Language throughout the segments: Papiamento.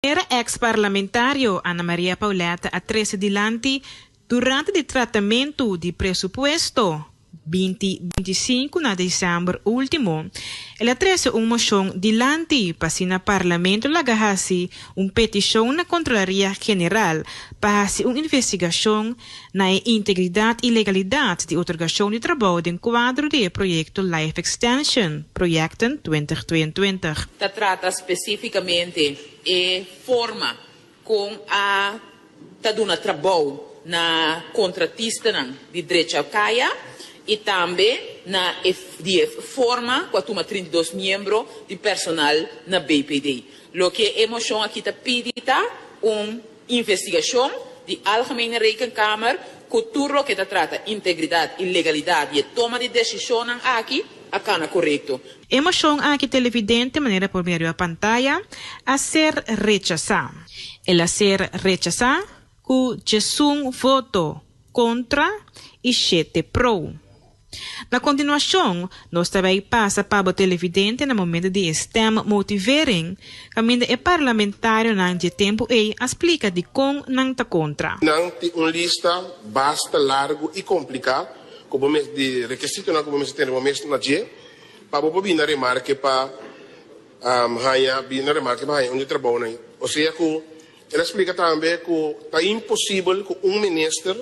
Era ex parlamentario Ana Maria Paulette a trese dilanti durante di tratamentu di presupuesto binti binti sinku na december ultimo. El a trese un mocion dilanti pa asina parlamento laga haci un peticion na Controlaria General pa haci un investigacion na e integridad y legalidad di otorgacion di trabou den cuadro di e proyecto Life Extension, Projecten twintig tweeëntwintig. ta trata specificamente e forma con a ta duna trabou na contratistanan di Drechau Caya y tambe na e di e forma cu a tuma trinta i dos miembro di personal na BPD. Loke e mocion aki ta pidi ta un. Investigashon di Algemene Rekenkamer ku tur loke ta trata integridat i legalidat di e toma di desishonnan aki a kana korekto. E moshon aki televidente manera por medio a pantaya a ser rechasá. El a ser rechasá ku djesun voto kontra i shete pro. Na continuacion, nos ta bay pasa pa bo televidente na momento di e stem motivering, caminda e parlamentarionan dje tempo ey a splica dicon nan ta contra. Nan tin un lista basta largo y complica cu bo mes di requisitonan cu bo mester tene bo mes na dje pa bo por bini na remarke pa haya bini na remarke pa haya un di trabounan ey. Osea cu el a splica tambe cu ta imposible cu un minister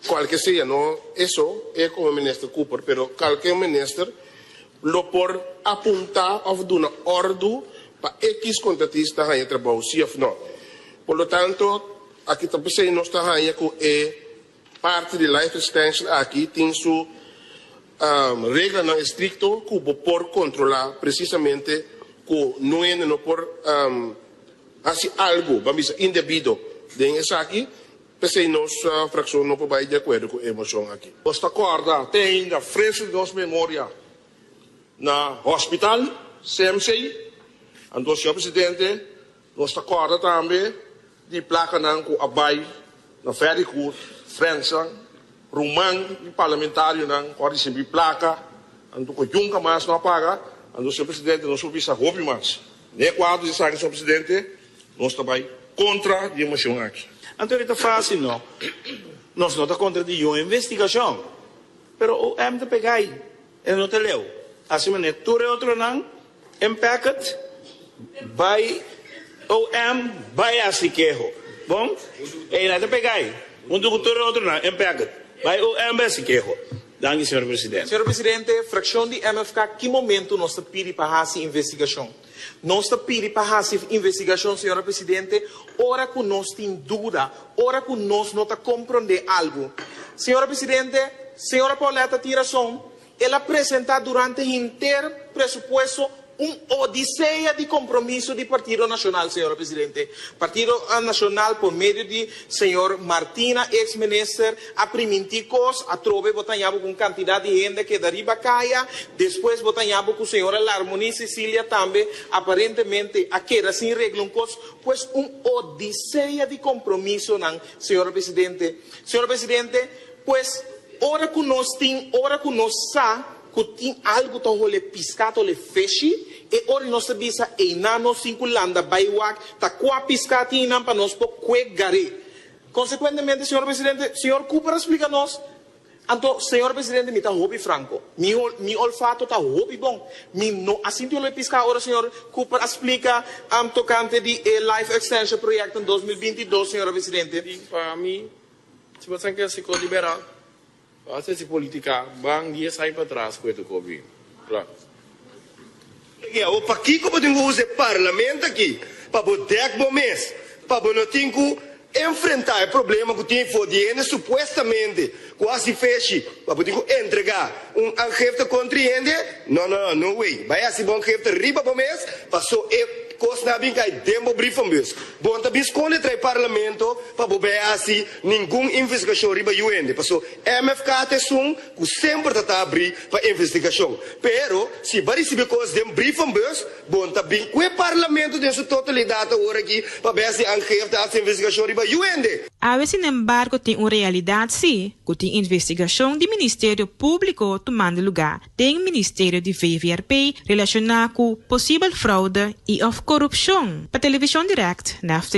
Cualke sea, no eso e como Minister Cooper, pero calke un minister lo por apunta of duna ordu pa X contratista hanja trabao si of no. Por lo tanto, aki ta p'esey nos ta hanja cu e parti di life extension aki tin su reglanan estricto cu bo por controla precisamente cu no hende no por haci algo, ban bisa, indebido den esaki. P'esei nos frakshon no por bai di akuerdo ku e moshon aki. Nos ta kòrda te ainda fresu di nos memoria na hòspital CMC. Anto señor presidente, nos ta kòrda tambe di plakanan ku a bai na Ferry Court, frensnan, ruman di parlamentarionan ku a risibi plaka. Anto ku yunka mas no a paga. Anto señor presidente, nos por bisa hopi mas. Na e kuadro di esaki, señor presidente, Nos ta bai kontra di e moshon aki. Anto ora e ta fásil? No. Nos no ta kontra di yon investigashon. Pero OM ta pega ei. E no ta leu. Asina manera tur e otronan impacted bai OM bai hasi keho. Bon? Eina ta pega ei. Huntu ku tur e otronan impacted bai OM bai hasi keho. Danki, señor presidente. Señor presidente, frakshon di MFK ki momentu nos ta pidi pa hasi investigashon? Nos ta pidi pa hasi investigashon, señora presidente, ora ku nos tin duda, ora ku nos no ta komprondé algu. Señora presidente, señora Pauletta tin rason, el a presentá durante henter presupuesto un odisea di kompromiso di Partido Nashonal, señora presidente. Partido Nashonal por medio di señor Martina, eks minister, A primintí kos, atrobe bo ta yabo ku un kantidat di hende a keda riba kaya, despues bo ta yabo ku señora Larmonie Cecilia tambe aparentemente a keda sin regla un kos, pues un odisea di kompromisonan, señor Presidente. Señor Presidente, pues ora ku nos tin, ora ku nos sa ku tin algu ta hole piskat, hole feshi, e ora nos ta bisa einan nos tin ku landa bai wak ta kua piskat tin einan pa nos por kue gar'é. Consecuentemente, Señor Presidente, Señor Cooper a splica nos, Anto, Señor Presidente, mi ta hopi franco. Mi, mi olfato ta hopi bon. Mi no a sinti olor e pisca ora Señor Cooper a splica um tocante di e Life Extension Project den dos mil binti i dos, Señor Presidente. Di pa mi, si bo ta senti así, kos di bera? Hasta si politicaban dies ai patras cu e tocobi. Claro. Degi awor pakico bo tin cu usa e Parlament aki pa bo dek bo mes, pa bo no tin cu enfrenta e problema cu tin for di hende supuestamente cu a haci feshi pa bo tin cu entrega un angefta contra e hende? No no no no way, bay haci bo angefta riba bo mes paso e cosnan a bin cay den bo brievenbus. Bon ta bin sconde tra e Parlamento pa bo bay haci Ningun investigashon riba yu hende, paso MFK ta esun ku semper ta ta abri pa investigashon. Pero si bo a risibi kos den brievenbus, bon ta bin ku e parlamento den su totalidat awor aki pabes di Angev ta hasi investigashon riba yu hende. Awe sinembargo tin un realidat si, ku tin investigashon di Ministerio Públiko tumando lugá den Ministerio di VVRP relashoná ku posibel froude i òf korupshon. Pa Television Direct, Nephtaly.